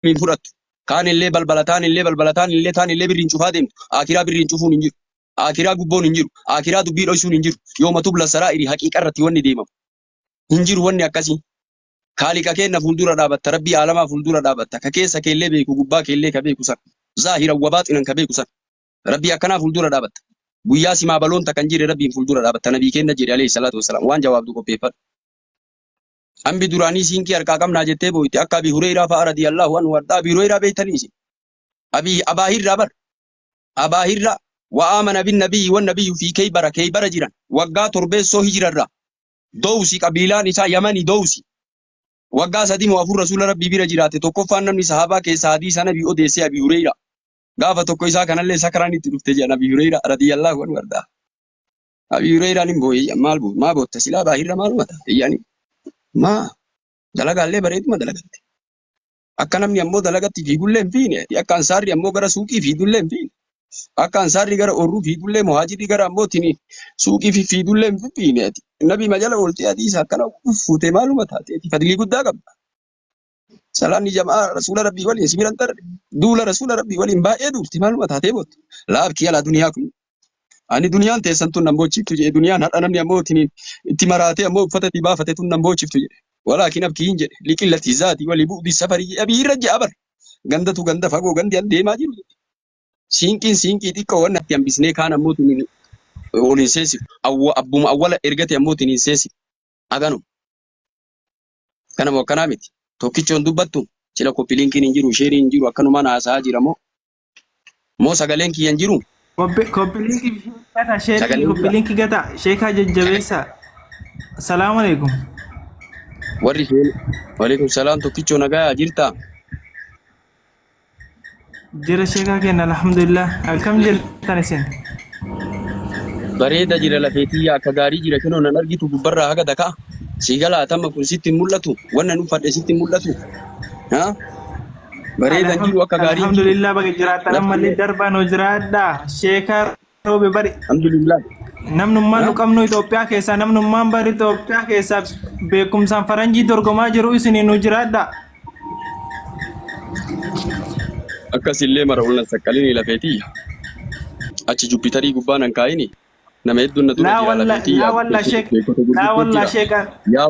hin fudhattu. Taanillee balbala taanillee balbala taanillee taanillee birriin cufaa deemtu. Aakiraa birriin cufuun hin jiru. Aakiraa gubboon hin jiru. Aakiraa dubbii dhoysuun hin jiru. Yooma tubla saraa'iri haqiiqa irratti wanni deemamu. Hin jiru wanni akkasii. Kaaliqa keenna fuuldura dhaabatta, Rabbii aalamaa fuuldura dhaabatta, ka keessa keellee beeku, gubbaa keellee ka beeku sana. Zaahiran wa baaxinan ka beeku sana. Rabbii akkanaa fuuldura dhaabatta. Guyyaa simaa baloon takka hin jirre Rabbiin fuuldura dhaabatta. Nabii keenna jedhe alayhi salaatu wassalaam. Waan jawaabdu qopheeffadhu. Ambi duraanii siinkii harkaa qabnaa jettee booyti akka Abi Hureyraa fa'a radiyallahu anhu hadhaa Abi Hureyraa beeytanii isin? Abi Abaa Hirraa bar. Abaa Hirraa wa aamana bin nabiyyi wan nabiyyu fi Keybara Keybara jiran waggaa torbeessoo hijirarraa Dowsi qabiilaan isaa Yamani Dowsi waggaa sadii moo afur Rasuula Rabbii bira jiraate tokkoffaan namni sahaabaa keessaa hadiisa nabii odeessee Abi Hureyraa gaafa tokko isaa kanallee sakraan itti dhufte jedhan Abi Hureyraa radiyallahu anhu hadhaa. Abi Hureyraan hin booye iyya maal boo maa bootta silaa baahirra maaluma taate iyyani maa dalagaallee bareeduma dalagatte akka namni ammoo dalagatti fiigullee hin fiine ati akka ansaarri ammoo gara suuqii fiidullee hin fiine akka ansaarri gara oorruu fiidullee muhaajirri gara ammoo tini suuqii fi fiidullee hin fiine ati nabi majala ooltee hadiisa akkana fuutee maaluma taate ati fadlii guddaa qabda Salaanni jamaa rasuula rabbii waliin si biran tarre duula rasuula rabbii waliin baay'ee duulte maaluma taatee boottu laabkii alaa duniyaa kun ani duniyaan teessan tun nan boochiftu jedhe duniyaan har'a namni ammoo ittiin itti maraatee ammoo uffata itti baafate tun nan boochiftu jedhe walaakin abkii hin jedhe liqillati zaati walii bu'di safarii jedhe abii irra ja'a bar gandatu ganda fagoo gandi an deemaa jiru jedhe siinqiin siinqii xiqqoo wanna itti hambisnee kaan ammoo tun waliin seensiftu awwa abbuma awwala ergate ammoo tun hin seensiftu aganuma Akkana moo akkanaa miti? Tokkichoon dubbattu? Sila copy linkiin hin jiru, share hin jiru akkanumaan haasa'aa jira moo? Moo sagaleen kiyya hin jiru? Copy copy link gata sheekii Sagaleen copy jira. link gata sheekaa jajjabeessa. Assalaamu alaikum. Warri isheen. Waalaikum salaam tokkichoo nagaa jirtaa? Jira sheekaa keenya alhamdulillah. Akkam jirtan isin? Bareeda jira lafee tiyya akka gaarii jira kenoo nan argitu gubbarraa haga dakaa. Sii galaa tamma kun sitti hin mul'atu. Wannan uffadhe sitti hin mul'atu. Ha? Bareedan jiru akka gaarii hin jiru. Alhamdulillah baga jiraatan ammallee darbaan hojiraadhaa. Sheekaa roobe bari Alhamdulillah. namnummaan nu qabnu Itoophiyaa keessaa namnummaan bari Itoophiyaa keessaa beekumsaan faranjii dorgomaa jiru isinii nu jiraadha. Akkasillee mara ol nan saqqalini lafeetii. Achi Jupitarii gubbaa nan kaayini. Nama hedduun na dura Laa jira walla lafeetii laa yaa walla gubbaa sheek beekota laa gurguddoo walla jira. sheekaan Yaa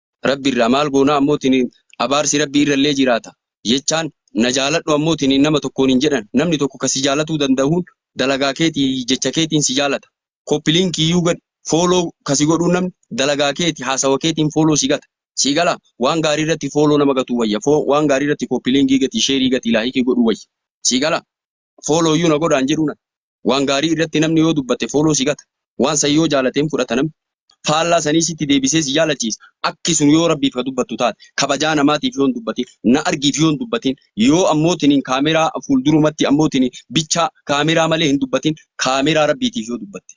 Rabbi irraa maal goonaa ammootiniin abaarsi Rabbii irrallee jiraata jechaan na jaaladhu ammootiniin nama tokkoon hin jedhan namni tokko ka si jaalatuu dandahuun dalagaa keeti jecha keetiin si jaalata copy link iyyuu gadhi follow ka si godhuu namni dalagaa keeti haasawa keetiin follow si gata sii galaa waan gaarii irratti follow nama gatuu wayya fo waan gaarii irratti copy link gati share gati like godhuu wayya sii galaa fooloo iyyuu na godhaan jedhuu nan. Waan gaarii irratti namni yoo dubbate fooloo si gata. Waan san yoo jaalate hin fudhata namni. Faallaa sanii sitti deebisee si jaalachiisa. Akki sun yoo Rabbiif ka dubbattu taate, kabajaa namaatiif yoo hin dubbatin, na argiif yoo hin dubbatin, yoo ammootiin kaameraa fuuldurumatti ammootiin bichaa kaameraa malee hin dubbatin, kaameraa Rabbiitiif yoo dubbatte.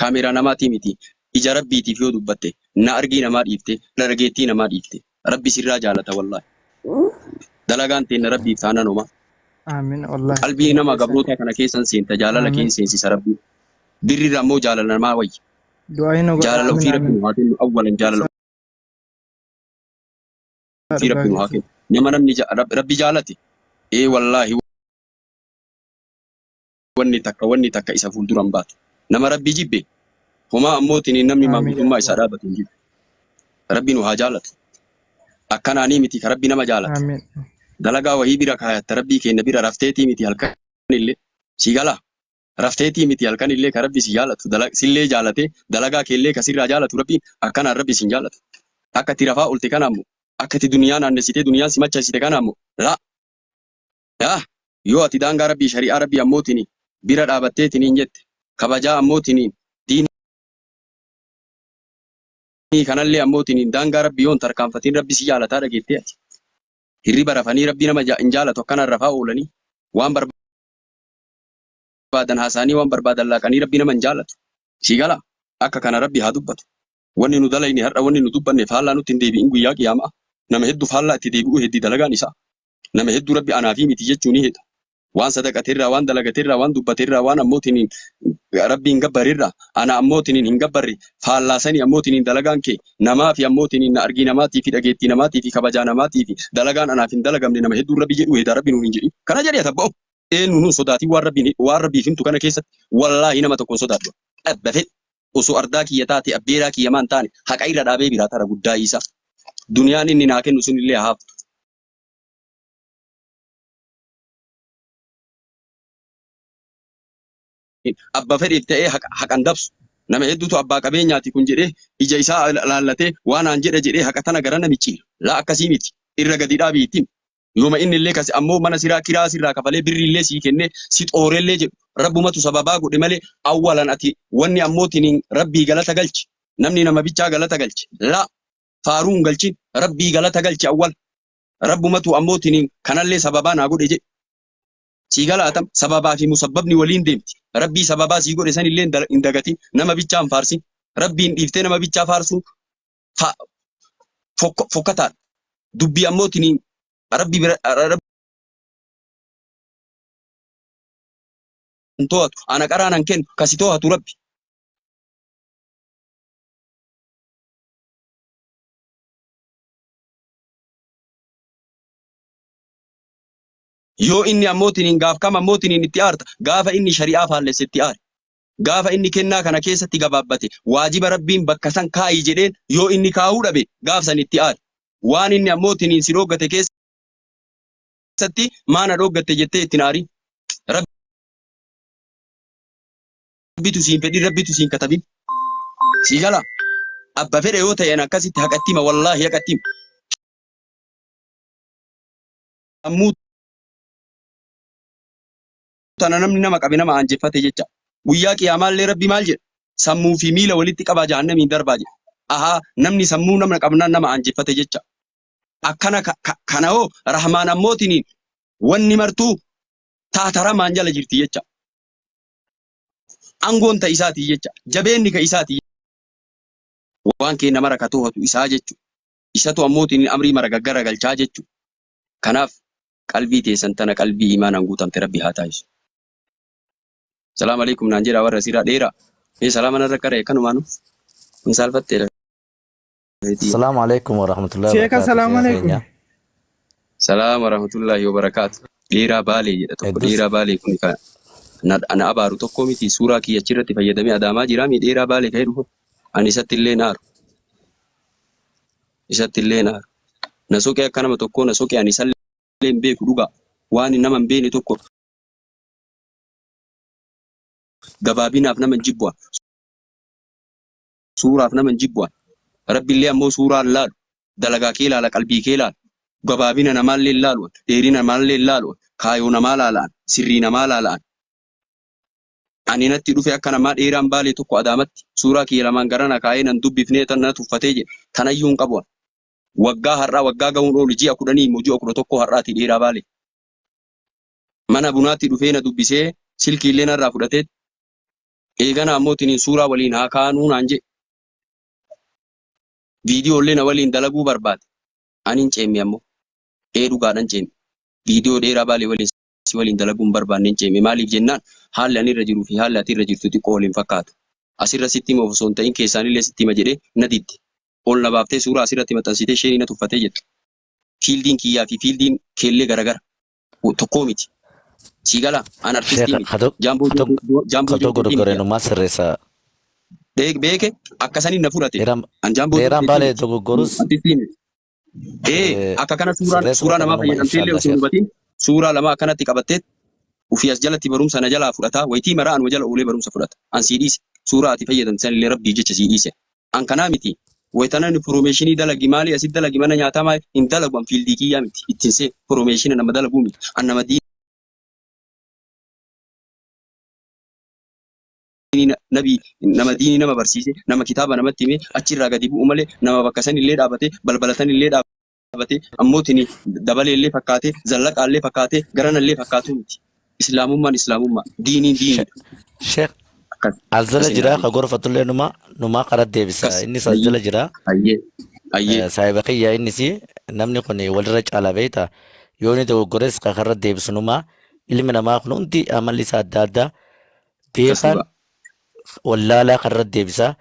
Camera namati miti ija rabbitif yoo dubbatte na argii namaa dhiifte dharageettii namaa dhiifte rabbi sirraa jaalata wallahi dalagaan teenna rabbiif taanan homa Aamin wallahi qalbii sirrii nama keessan gabroota kana keessan seenta jaalala Aamin keen seensisa rabbi birrirra ammoo jaalala namaa wayya du'aa hin godha jaalala Aamin ofii rabbi Aamin nu haa kennu awwalan jaalala isaa ofii dhugaa rabbi nu haa keessan kennu nama namni ja- Rab- rabbi jaalate ee wallahi wanni takka wanni takka isa fuuldura hin baatu. Nama Rabbii jibbe homaa ammootiniin namni Aamiin yaa maanguddummaa isaa Allah. dhaabatu hin jiru. Rabbi nu haa jaalatu. Akkanaanii miti ka Rabbi nama jaalata. Aamiin. Dalagaa wahii bira kaayatta Rabbii keenna bira rafteetii miti halkanillee. Si galaa? Rafteetii miti halkanillee ka Rabbi si jaalatu dala- sillee jaalatee dalagaa keellee ka sirraa jaalatu Rabbiin akkanaan Rabbi sin jaalatu. Akka itti rafaa olte kana ammoo akka itti duniyaa naannessitee duniyaan si machaasite kana ammoo laa Yaa! Yoo ati daangaa Rabbii, shari'aa Rabbii ammootini bira dhaabatteetiniin jette, kabajaa ammootiniin, diinii kanallee ammootiniin daangaa Rabbii yoo hin tarkaanfatin Rabbi si jaalataa dhageettee ati? Hirriba rafanii Rabbi nama hin jaalatu akkanaan rafaa oolanii, waan barbaadan haasa'anii, waan barbaadan laaqanii Rabbi nama hin jaalatu. Sii galaa? Akka kana Rabbi haa dubbatu. Wanni nu dalayne har'a wanni nu dubbanne faallaa nutti hin deebi'in guyyaa qiyaama'aa. Nama heddu faallaa itti deebi'uu heddi dalagaan isaa. Nama heddu Rabbi anaafii miti jechuu ni heda. Waan sadaqate irraa, waan dalagate irraa, waan dubbate irraa, waan ammoo tiniin Rabbi hin gabbare irraa, ana ammoo tiniin hin gabbarre, faallaa sanii ammoo tiniin dalagaan kee namaafi ammoo tiniin na argii namaatiifi dhageettii namaatiifi kabajaa namaatiifi dalagaan anaaf hin dalagamne nama hedduun Rabbi jedhuu heda Rabbi nuun hin jedhin. Kana jedhi ati abba'oo! Eennuunuu hin sodaatin waan Rabbiin waan Rabbiif himtu kana keessatti wallaahi nama tokko hin sodaadhu. Dhabba fedhi. osoo ardaa kiyya taatee abbeeraa kiyya maan taane haqa irra dhaabee biraa tara guddaa iisaa duniyaan inni naa kennu sun illee haaftu abba fedheef ta'ee haqa haqan dabsu nama hedduutu abbaa qabeenyaati kun jedhee ija isaa laallatee waan aan jedha jedhee haqa tana gara namichi laa akkasii miti irra gadi dhaabii ittiin Yooma innillee kase ammoo mana siraa kiraa sirraa kafalee birriillee sii kennee si xoorellee jedhu Rabbumatu sababaa godhe malee awwalan ati wanni ammoo tiniin Rabbii galata galchi namni nama bichaa galata galche laa faaruu hin galchin Rabbii galata galchi awwala Rabbumatu ammoo tiniin kanallee sababaa naa godhe jedhi sii galaatam sababaa fi musabbabni waliin deemti Rabbii sababaa sii godhe sanillee hin dagatin nama bichaa hin faarsin Rabbiin dhiiftee nama bichaa faarsuun fa- fok- fokkataadha. Dubbii ammoo tiniin rabbi bira rabbi hin to'atu. Ana qaraa nan kennu ka si to'atu rabbi. Yoo inni ammoo tiniin gaaf kam ammoo tiniin itti aarta gaafa inni shari'aa faallesse itti aare. Gaafa inni kennaa kana keessatti gabaabbate, waajiba Rabbiin bakka san kaa'i jedheen yoo inni kaahuu dhabe, gaaf san itti aari. Waan inni ammoo tiniin si dhooggate keessatti maa na dhooggatte jettee itti hin aarin. Rabbitu siin fedhin, Rabbitu siin katabin. Sii gala? Abba fedhe yoo ta'een akkasitti haqatti hima, wallaahi haqatti hima. Sammuu tana namni nama qabe nama aanjeffate jecha. Guyyaa qiyaamaallee rabbi maal jedha? Sammuu fi miila walitti qabaa jahannamiin darbaa jedha. Ahaa namni sammuu namna qabnaan nama aanjeffate jecha. Akkana ka- ka- kana hoo rahmaan ammootiniin wanni martuu taata rahmaan jala jirti jecha. Angoon ta isaati jecha. Jabeenni ka isaati waan kee nama rakatoo hatu isaa jechu. Isatu ammootiin amrii mara gaggara galchaa jechu. Kanaaf qalbii teessan tana qalbii iimaanaan guutamte Rabbi haa taasisu. Salaam alaikum naan jedhaa warra asiirraa dheeraa. Mee salaama narra qara'e kanumaanu hin saalfattee lafa. Assalamu alaikum wa rahmatullahi wa Sheeka barakatuh. salaam Sheeka alaikum. keenya. Salaam warahmatullaahi wabarakaatu. Dheeraa baalee jedha tokko. Heddus- Dheeraa baalee kun kan na, na abaaru tokko miti. Suuraa kiyya achirratti fayyadamee adaamaa jira. Mee dheeraa baalee ka'ee dhufu. Ani isatti illee naaru. isatti illee hin aaru. Na soqee akka nama tokkoo na soqe ani isallee hin beeku dhugaa. Waani nama hin beekne tokko gabaabinaaf nama hin jibbu an. Suuraaf nama hin jibbu an. Rabbi illee ammoo suuraa hin laalu. Dalagaa kee laala qalbii kee laala. Gabaabina namaa illee hin laalu an. Dheerina namaa illee hin laalu an. Kaayoo namaa laala an. Sirrii namaa laala an. Ani natti dhufe akka namaa dheeraan baalee tokko Adaamatti suuraa kiyya lamaan gara na kaayee nan dubbifnee tan na tuffatee jedhe tanayyuu hin qabu ani. Waggaa har'aa waggaa gahuun oolu ji'a kudhanii immoo ji'a kudha tokkoo har'aati dheeraa baalee. Mana bunaatti dhufee na dubbisee silkiillee narraa fudhateet eeganaa immoo tiniin suuraa waliin haa kaanuu naan jedhe. Viidiyoollee na waliin dalaguu barbaade. Ani hin ceemme ammoo. Ee dhugaadhan ceeme. Viidiyoo dheeraa baalee waliin. si waliin dalaguu hin barbaanneen ceeme. Maaliif jennaan haalli ani irra jiruu fi haalli ati irra jirtu xiqqoo wal hin fakkaatu. Asirra sitti himuuf osoo hin ta'in keessaanillee sitti hima jedhee na didde. Ol na baaftee suuraa asirratti maxxansitee isheenii na tuffatee jette. Fiildiin kiyyaa fi fiildiin keellee garagara. Tokkoo miti. Sii galaa? An artistii miti. Jaamboo Joonkuutii miti. Gareenummaa sirreessa. Beeke akkasaniin na fudhate. An jaamboo Dheeraan baalee dogoggorus. Artistii miti. Ee Eh, akka kana suuraa sirreessuma suuraa kana namaa numa fayyadamtee illee inshaallah osoo hin sheekh. hubatiin suuraa lamaa akkanatti qabattee ofii as jalatti barumsa na jalaa fudhataa wayitii maraa anuma jala oolee barumsa fudhata an sii dhiise suuraa ati fayyadamte san illee rabbii jecha sii dhiise an kanaa miti wayitana inni foroomeeshinii dalagi maalii asit dalagi mana nyaataa maali hin dalagu an fiildii kiyyaa miti ittiin see foroomeeshina nama dalaguu miti an nama diinii nabi nama diinii nama barsiise nama kitaaba namatti hime achi irraa gadi bu'u malee nama bakka san illee dhaabate balbala san illee dhaabate ammoo tini dabalee illee fakkaate zallaqaa illee fakkaate garana illee fakkaatu miti islaamummaan islaamummaa diiniin diiniidha Sheekh akkas as jala akkasiin jira haadhiin ka gorfatullee numa numaa qara deebisa akkas innis as ayyee jala jira ayyee ayyee Eh, saahiba kiyya innis namni kun walirra caala beekta yoo inni dogoggores ka karra deebisu numa ilmi namaa kun hundi amalli isaa adda addaa Beekaan dhugaa. wallaalaa kanarratti deebisaa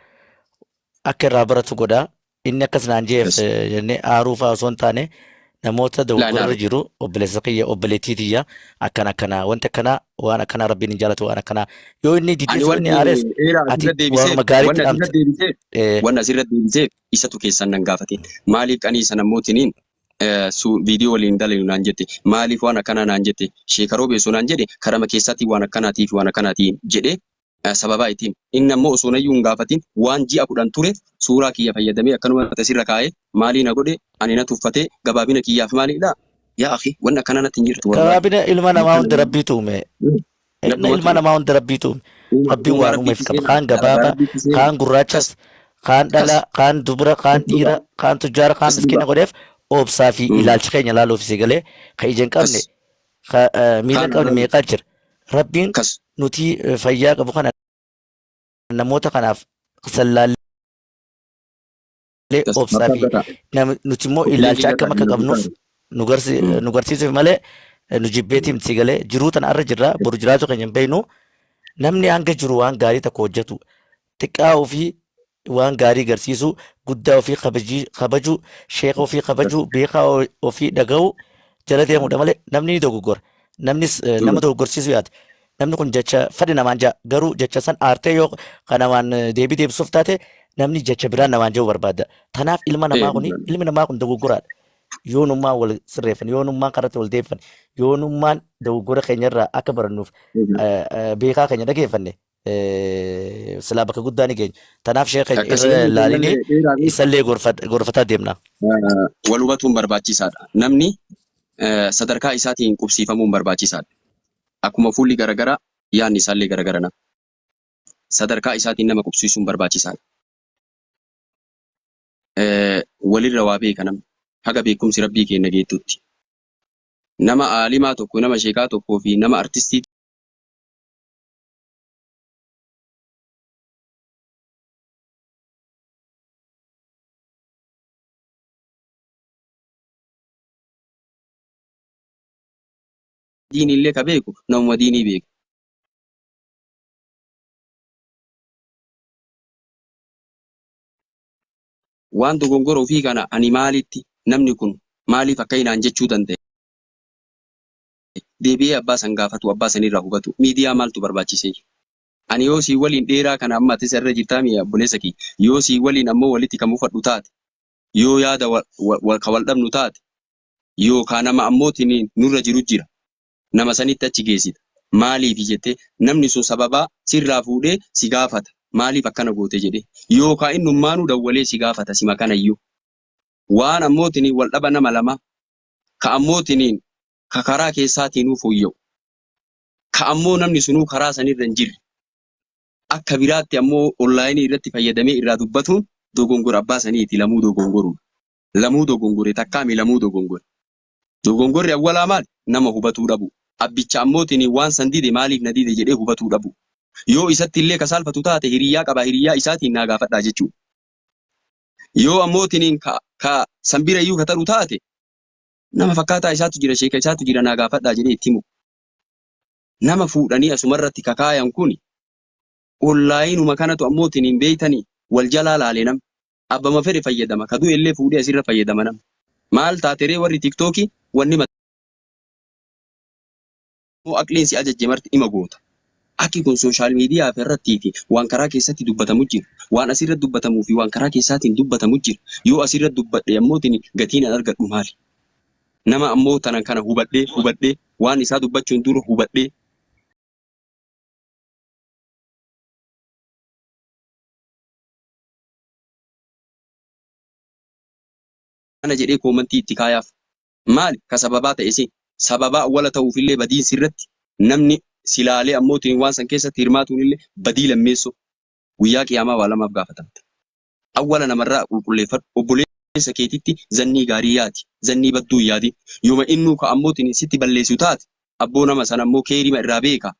akka irraa baratu godhaa. Inni akkas naan jeef Yes. eh, jennee aaruu fa'aa osoo hin taane namoota dogoggorarra aaru. jiru obboleessa kiyya obboleettii tiyya akkana akkana wanti akkanaa waan akkanaa rabbiin hin jaalatu waan akkanaa yoo inni Ani diddees yoo inni wanni aarees eera ati asirra deebiseef, waanuma gaariitti wanni asirra dhaamte. deebiseef, Eh, wanni asirra deebiseef isatu keessan nan gaafateen. Maaliif qanii sana mootiniin viidiyoo waliin dalaynu naan jette maaliif waan akkanaa naan jette sheeka roobee osoo naan jedhe karama keessaatiin waan akkanaatii fi waan akkanaatiin jedhee sababaa itti hime inni ammoo osoo nayyuu hin gaafatiin waan ji'a kudhan ture suuraa kiyya fayyadamee akkanuma tasirra kaa'ee maalii na godhe ani na tuffatee gabaabina kiyyaaf maaliidha yaa akhi wanni akkanaa natti hin jirtu wallahi gabaabina ilma namaa hunda rabbiitu uume Ilma Ilma ilma ture. namaa hunda rabbiitu uume. Uuma- Rabbiin uuma waan uumeef rabbiitu qaba. seena. Kaan Dalagaa gabaaba, rabbiitu seena. kaan gurraachas, kaan Kas. dhalaa, kaan dubra, kaan Kas dhiira, dhugaa. kaan tujjaara, kaan Kas miskiina dhugaa. godheef obsaa fi Mm. ilaalcha keenya laaluuf si galee ka ija hin qabne, Kas. ka eh, miila Kaan hin qabne irraa- meeqaa jira. Rabbiin Kas. nuti eh, fayyaa qabu kana namoota kanaaf sallaallee malee Yes, obsaa mataa fi gataa. nam- nuti immoo Ofilee ilaalcha biyya akkam akka kana qabnuuf gataa. nu garsi- Mm. nu garsiisuuf malee nu jibbeetii miti galee jiruu tana irra jirra boru jiraachuu keenya hin beeknu namni hanga jiru waan gaarii tokko hojjetu xiqqaa ofii waan gaarii garsiisu guddaa ofii kabajii- kabaju sheeka ofii kabaju beekaa o- ofii dhaga'u jala deemudha malee namni ni dogoggora namnis eh, nama dogoggorsiisu yaada Namni kun jecha fedhe namaan ja'a. Garuu jecha san aartee yoo ka namaan deebii deebisuuf taate namni jecha biraan namaan ja'uu barbaada. Tanaaf ilma namaa Ee, kuni dhugaadha. ilmi namaa kun dogoggoraadha. Yoonummaan wal sirreeffan, yoonummaan karratti wal deeffan, yoonummaan dogoggora keenyarraa akka barannuuf Dhugaadha. eh, eh, beekaa keenya dhageeffanne eh, silaa bakka guddaa ni geenya. Tanaaf sheeka keenya Akka irra seenaan kun laalinee malee dheeraa beeku. isallee gorfat- gorfataa deemna. Eh, Wal hubatuun barbaachisaadha. Namni eh, sadarkaa isaatiin qubsiifamuun barbaachisaadha. Akkuma fuulli garagara yaadni isaallee garagara nama sadarkaa isaatiin nama qubsiisuun barbaachisaadha. Walirra waa beeka namni haga beekumsi Rabbii keenna geettutti. Nama aalimaa tokko, nama sheekaa tokkoo fi nama artistii diiniillee ka beeku namuma diinii beeku. Waan dogongora ofii kana ani maalitti, namni kun maaliif akkai naan jechuu danda'e? Deebi'ee abbaa san gaafatuu, abbaa sanirraa hubatuu. Miidiyaa maaltu barbaachiseeyyu? Ani yoo sii waliin dheeraa kana amma atis irra jirtaamii yaa obboleessa kiyya, yoo sii waliin ammoo walitti ka mufadhu taate, yoo yaada ka wal dhabnu taate, yookaa nama ammootiin nurra jiru jira nama sanitti achi geessita maaliifi jettee namni sun sababaa sirraa fuudhee si gaafata maaliif akkana goote jedhee yookaa innummaanuu dawwalee si gaafata sima kanayyuu waan ammootiin wal dhaba nama lamaa ka ammootiin ka karaa keessaatiinuu fooyya'u ka ammoo namni sunuu karaa sanirra hin jirre akka biraatti ammoo onlaayinii irratti fayyadamee irraa dubbatuun dogongora abbaa saniiti lamuu dogongoruudha. lamuu dogongore takkaami lamuu dogongore. Dogongorri awwalaa maali? Nama hubatuu dhabuu. Abbicha ammootiin waan san dide maaliif na dide jedhee hubatuu dhabuu. Yoo isatti illee ka saalfatu taate hiriyyaa qabaa hiriyyaa isaatiin naa gaafadhaa jechuudha. Yoo ammootiin ka ka san bira iyyuu ka taru taate nama fakkaataa isaatu jira sheeka isaatu jira naa gaafadhaa jedhee itti himuu. Nama fuudhanii asumarratti ka kaayan kuni Ollaayinuma kanatu ammoo tin hin beeytani wal jalaa laale namni. Abbama fedhe fayyadama ka du'ellee fuudhee asirra fayyadama namni. Maal taateree warri tiktoki wanni mataa moo aqliin si ajajje marti ima goota. Akki kun social media fi irratti fi waan karaa keessatti dubbatamu jira. Waan asirra dubbatamu fi waan karaa keessaatin dubbatamu jira. Yoo asirra dubbadhe ammoo tin gatiin an argadhu maali? Nama ammoo tanan kana hubadhee hubadhee waan isaa dubbachuun dura hubadhee. kana jedhee koomantii itti kaayaaf. Maali ka sababaa ta'e si? Sababaa awwala ta'uufillee badiin sirratti namni si laalee ammootiin waan san keessatti hirmaatuunillee badii lammeessoo. Guyyaa Qiyaamaa waa lamaaf gaafatamta. Awwala namarraa qulqulleeffadhu. Obboleessa keetitti zannii gaarii yaadi. Zannii badduu hin yaadin. Yoma innuu ka ammootiin sitti balleessu taate, abboo nama san ammoo keeyrima irraa beekaa.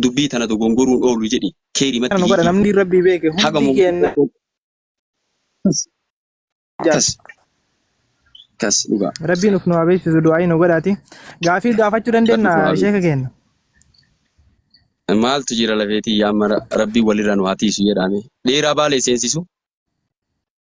dubbii tana dogongoruun oolu jedhi keeri matti nu godha hiiki namni rabbii beeke haga hundi keenna mu'min jaal kas kas dhugaa rabbii nuf nu habeessisu du'aa'ii nu godhaati gaafii gaafachuu rabbi dandeenya nu haa sheeka keenna beeku maaltu jira lafeetii yaamara rabbii walirra nu haa tiisu jedhaame dheeraa baalee seensisu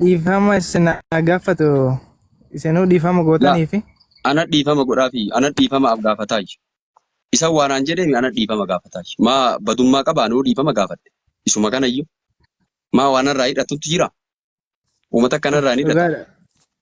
Dhiifama isin haa gaafatu. Isinuu dhiifama Laa gootanii fi ana dhiifama godhaafi ana dhiifama af gaafataayyu. Isa waanaan jedheemi ana dhiifama gaafataayyu. Maa badummaa qaba anuu dhiifama gaafadhe. Isuma kanayyu. Maa waanarraa hidhattutti jira? Uumata akkanarraa hin hidhata. dhugaadha.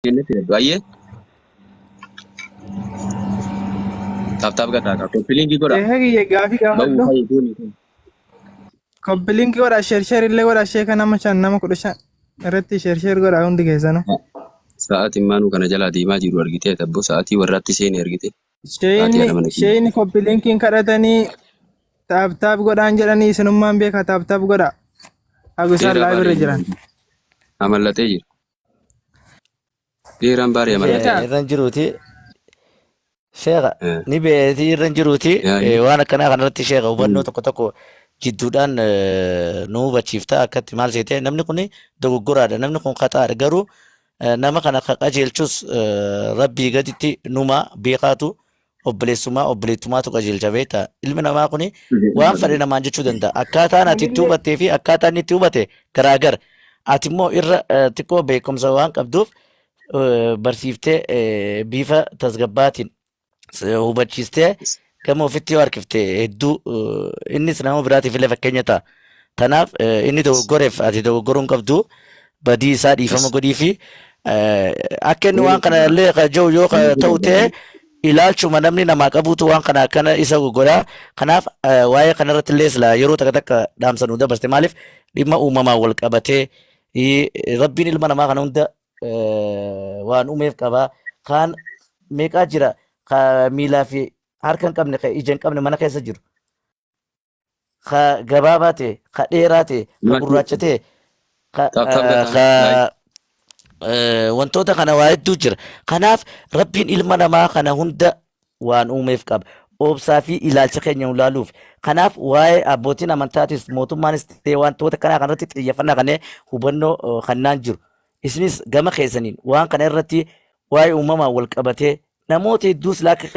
Jennee filadhu. Ayyee taaptaap gataa qaba. Koppiliingii godha. Ehe kiyya gaafii Ba'uu gaafadhu. fayyii gooni. Koppiliinki godha sheer sheer illee godha sheeka nama shan nama kudha shan irratti sheer sheer godha hundi keessanu. Sa'aatiin maanuu kana jalaa deemaa jiru argitee tabboo sa'aatii warraatti seenee argite. Sa'aatii Sheeyni haadha mana kiyya. sheeyni koppiliinkiin kadhatanii taaptaap godhaan jedhanii isinummaan beeka taaptaap godha. Agusaa Dheeraa laa bira baaree jiran. jiru. Amallaxee jira. Dhiiraan baariya Ni mallattoo. beekan Beekaa. irra hin jiruuti. Sheekha Eh, ni beetii irra hin jiruuti. Yaa Eh, waan akkanaa kanarratti sheekha hubannoo tokko tokko jidduudhaan eh, nu hubachiifta akkatti maal seete namni kun dogoggoraadha namni kun khaxaadha garuu eh, nama kana ka qajeelchus eh, rabbii gaditti numa beekaatu obboleessummaa obboleettumaatu qajeelcha beekta ilmi namaa kun waan fedhe namaan jechuu danda'a akkaataan ati itti hubattee fi akkaataa inni itti hubate garaagara ati immoo irra eh, xiqqoo beekumsa waan qabduuf eh, barsiiftee eh, bifa tasgabbaatiin eh, hubachiistee gama ofitti yoo harkifte hedduu eh, innis nama biraatiif illee fakkeenya ta'a. Tanaaf eh, inni dogoggoreef ati dogoggoruu hin qabdu badii isaa dhiifama godhii fi akka inni waan kana illee ka jiru yoo ka ta'u ta'e ilaalchuma namni namaa qabuutu waan kana akkana isa godha kanaaf eh, waa'ee kana irratti illee sila yeroo takka takka dhaamsa nu dabarste maaliif dhimma uumamaan wal qabatee i- rabbiin ilma namaa kana hunda eh, waan uumeef qaba kaan meeqaa jira ka miilaa fi harka hin qabne ka ija hin qabne mana keessa jiru ka gabaabaa ta'e ka dheeraa ta'e ka Lakki- gurraacha ta'e ka Ka- ka eh, biraa ka like. eh, wantoota kana waa hedduu jira kanaaf rabbiin ilma namaa kana hunda waan uumeef qaba obsaa fi ilaalcha keenya ulaaluuf kanaaf waa'ee abbootiin amantaatis mootummaanis ta'e wantoota kanaa kanarratti xiyyeeffannaa kannee hubannoo eh, kannaan jiru isinis gama keessaniin waan kana irratti waa'ee uumamaan wal qabatee namoota hedduus laakka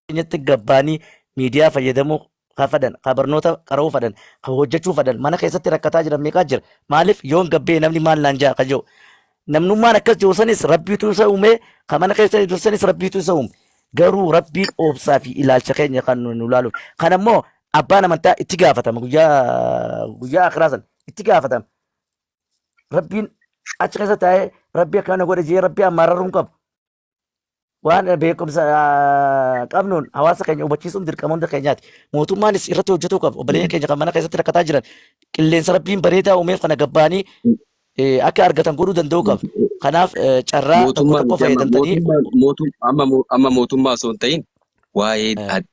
keenyatti gabbaanii miidiyaa fayyadamuu ka fedhan, ka barnoota qara'uu fedhan, ka hojjechuu fedhan, mana keessatti rakkataa jiran meeqaa jira. Maaliif yoon gabbee namni maal naan ja'a ka jedhu. Namnummaan akkas jiru sanis rabbiitu isa uume, ka mana keessa jiru sanis rabbiitu isa uume. Garuu rabbiin oobsaa fi ilaalcha keenya kan nu nu ilaaluuf. Kan ammoo abbaan amantaa itti gaafatama guyyaa guyyaa akiraa san itti gaafatama. Rabbiin achi keessa taa'ee rabbi akkana godhe jee rabbi ammaararuu hin qabu. waan beekumsa ah, qabnuun hawaasa keenya hubachiisuun dirqama hunda keenyaati. Mootummaanis irratti hojjetuu qaba. Obboleeyyan keenya kan mana keessatti rakkataa jiran qilleensa rabbiin bareedaa uumeef kana gabbaanii eh, akka argatan godhuu danda'uu qaba. Kanaaf eh, carraa tokko mootummaan tokko miti amma fayyadamtanii mootummaan mootum- amma mo- amma mootummaa osoo hin ta'in waa'ee Eh. ad-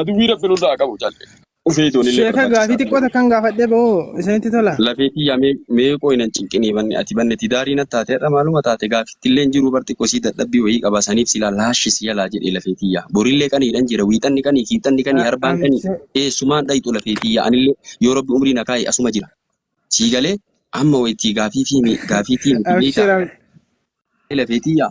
Aduwwii rabbi nurraa haa qabu calli. Ufee itoon illee Sheeka gaafii barbaachisaa ture. xiqqoo takkan gaafadhee ba'oo isinitti tola. Lafee tiyyaa mee mee qooyi nan cinqinii banne ati banne tidaarii natti taate har'a maaluma taate gaaffitti illee hin jiru bar xiqqoo sii dadhabbii wayii qaba saniif silaa laashi si jalaa jedhee lafee tiyyaa borillee qaniidhan jira wiixanni qanii kiibxanni qanii arbaan qanii Amshee. eessumaan dhayxu lafee tiyyaa anillee yoo rabbi umrii na kaa'e asuma jira sii galee amma waytii gaafii fi mi gaafii tii miti beeytaa Amshee. lafee tiyyaa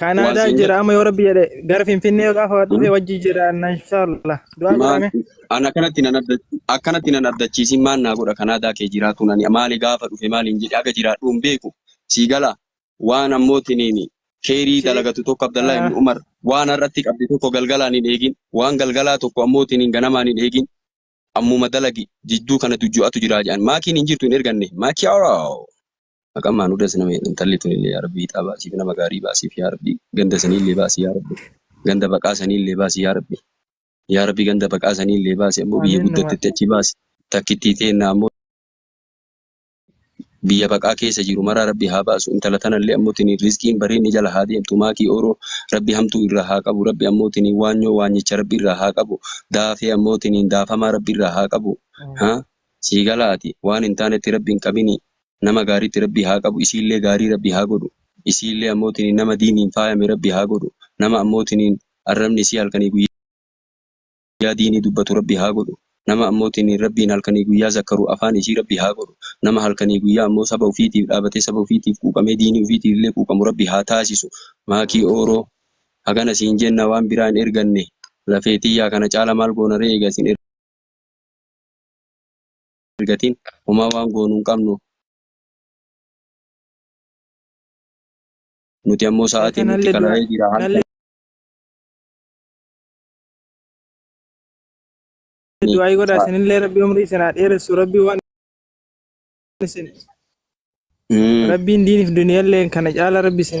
Kaanaadaa siin jira amma yoo rabbi jedhe gara Finfinnee gaafa jedhu dhufe wajji jiraanna inshaallah. Du'aa maal godhame. ana kanatti nan abda akkanatti nan abdachiisin maal naa godha kanaadaa kee jiraatuun ani maali gaafa dhufe maaliin jedhe aga jiraadhu hin beeku sii gala waan ammootiniin keerii Si dalagatu tokko Abdallaa ah, ibn Umar waan har'atti qabde tokko galgalaan hin eegin waan galgalaa tokko ammootiniin ganamaan hin eegin ammuma dalagi jidduu kana dujju'atu jiraa jedhan maakiin hin jirtu hin erganne maakiyaaroo Maqaan maanuudha sina intalli tunillee yaa rabbi ixaa baasiif nama gaarii baasiif yaa rabbi ganda saniillee baasi yaa rabbi ganda baqaa saniillee baasi yaa rabbi yaa rabbi ganda baqaa saniillee baasi ammoo biyya Amiin guddattetti numaati. achi baasi takkittii teenna ammoo biyya baqaa keessa jiru maraa rabbi haa baasu intala tanallee ammoo tini rizqiin bareenni jala haa deemtu maakii ooroo rabbi hamtuu irraa haa qabu rabbi ammoo tini waanyoo waanyicha rabbi irraa haa qabu daafee ammoo tiniin daafamaa rabbi irraa haa qabu haa sii galaati waan hin taanetti rabbi hin qabini nama gaaritti rabbii haa qabu isiillee gaarii rabbii haa godhu isiillee ammoo tiniin nama diiniin faayame rabbii haa godhu nama ammoo tiniin arrabni isii halkanii guyyaa diinii dubbatu rabbii haa godhu nama ammoo tiniin rabbiin halkanii guyyaa zakkaru afaan isii rabbii haa godhu nama halkanii guyyaa ammoo saba ufiitiif dhaabatee saba ufiitiif quuqamee diinii ufiitiifillee quuqamu rabbii haa taasisu maakii ooroo hagana siin jenna waan biraa hin erganne lafee tiyyaa kana caala maal goona ree eega isin argatiin homaa waan goonu hin qabnu. Nuti ammoo Ee, sa'aatiin nutti kanallee dura qalamee jira. Haal kanallee kananii du'aayii godhaa sa'a. isinillee rabbi umrii isin haa dheeressu rabbi waan isin Mm. rabbiin diiniif duniyallee kana caala rabbi isin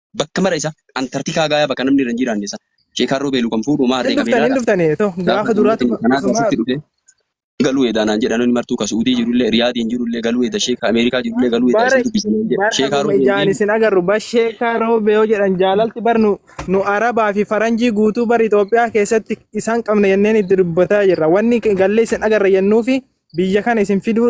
bakka mara isa Antarktikaa gaaya bakka namni irra hin jiraanne isa Sheekaan Roobeelu kan fuudhu maa harree qabee laata? Dhuftanii too gaafa duraatu kanaa keessatti dhufe galuu edaa naan jedhan inni martuu ka Suudii jirullee Riyaadiin jirullee galuu eda Sheeka Ameerikaa jirullee galuu eda isin dubbisan naan jedhe Sheekaa Roobeelu ijaan isin agarru bar Sheekaa Roobee yoo jedhan jaalalti bar nu nu Arabaa fi Faranjii guutuu bar Itoophiyaa keessatti isaan qabna jenneen itti dubbataa jirra wanni gallee isin agarra jennuu fi biyya kana isin fiduu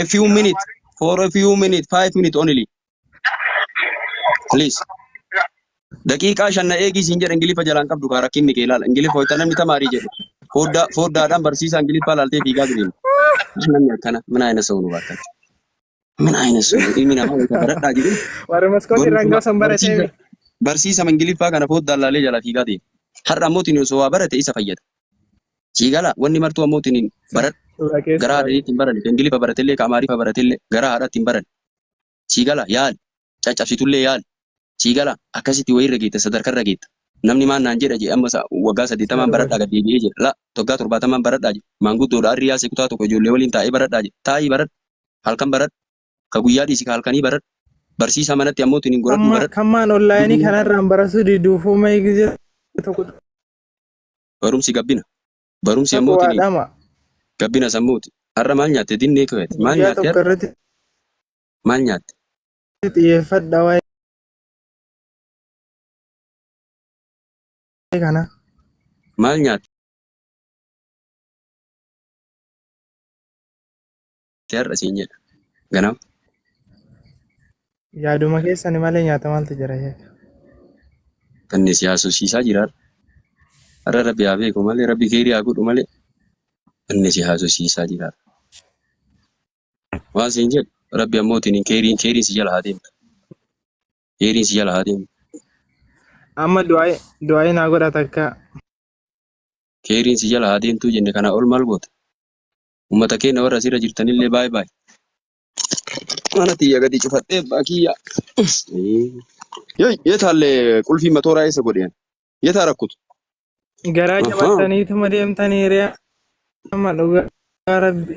a few minutes for a few minutes five minutes only please daqiiqaa shan na eegii siin jedha ingiliffa jalaan qabdu kaa rakkinni kee ilaala ingiliffa wayita namni tamaarii jedhu fooddaa fooddaadhaan barsiisaa ingiliffaa laaltee fiigaa giriin namni akkana min ayina sa'u nu baakkan min ayina sa'u ilmi namaa wayita baradhaa jedhu Warri maskooti irraan gaafa san baratee barsiisa barsiisama ingiliffaa kana foddaan laalee jala fiigaa deema. Har'a ammoo tini osoo waa barate isa fayyada. Sii galaa wanni martuu ammoo tinin baradhu Suuraa garaa keessaa haadhanii ittiin barani kan Ingiliffa baratellee kan Amaariffa baratellee garaa haadhaa ittiin barani sii galaa yaali caccabsitullee yaali sii galaa akkasitti wayirra geetta sadarkarra geetta namni maan naan jedha jedhe amma sa- waggaa saddeettamaan Sarara. baradhaa gad deebi'ee jedha la waggaa torbaatamaan baradhaa jedha maanguddoodha arri yaasee kutaa tokko ijoollee waliin taa'ee baradhaa jedha taa'ii baradhu halkan baradhu ka guyyaa dhiisi ka halkanii baradhu barsiisaa manatti ammoo tinin godhadhuu Kamma- baradhu Kammaan onlaayinii kanarraan barasuu diduufuu mayi gizee tokko Barumsi gabbina. Barumsi ammoo Taqwaa tiliin. dhama. Gabbina sammuuti. Har'a maal nyaatte dinnee keeti? Maal Guyyaa nyaatte tokko har'a? irratti Maal nyaatte? xiyyeeffadha waa'ee kana. Maal nyaatte? Ati har'a siin jedha. Ganama. Yaaduma keessani malee nyaata maaltu jira sheeka? Kanneen si haasofsiisaa jira har'a. Har'a rabbi haa beeku malee rabbi keerii haa godhu malee kanneen si haasofsiisaa jira har'a. Waan siin jedhu rabbi ammoo tiniin keeriin keeriin si jala haa deemtu. Keeriin si jala haa deemtu. Amma du'aayi du'aayi naa godha takka. Keeriin si jala haa deemtuu jenne kanaa ol maal goota? ummata keenya warra asirra jirtanillee baay baay mana tiyya gadi cufadhee abbaa kiyya yetaalle qulfii matooraa eessa godheen yetaa rakkutu Garaa Ahaa. jabattaniituma deemtanii hiriyaa amma dhugaa rabbi.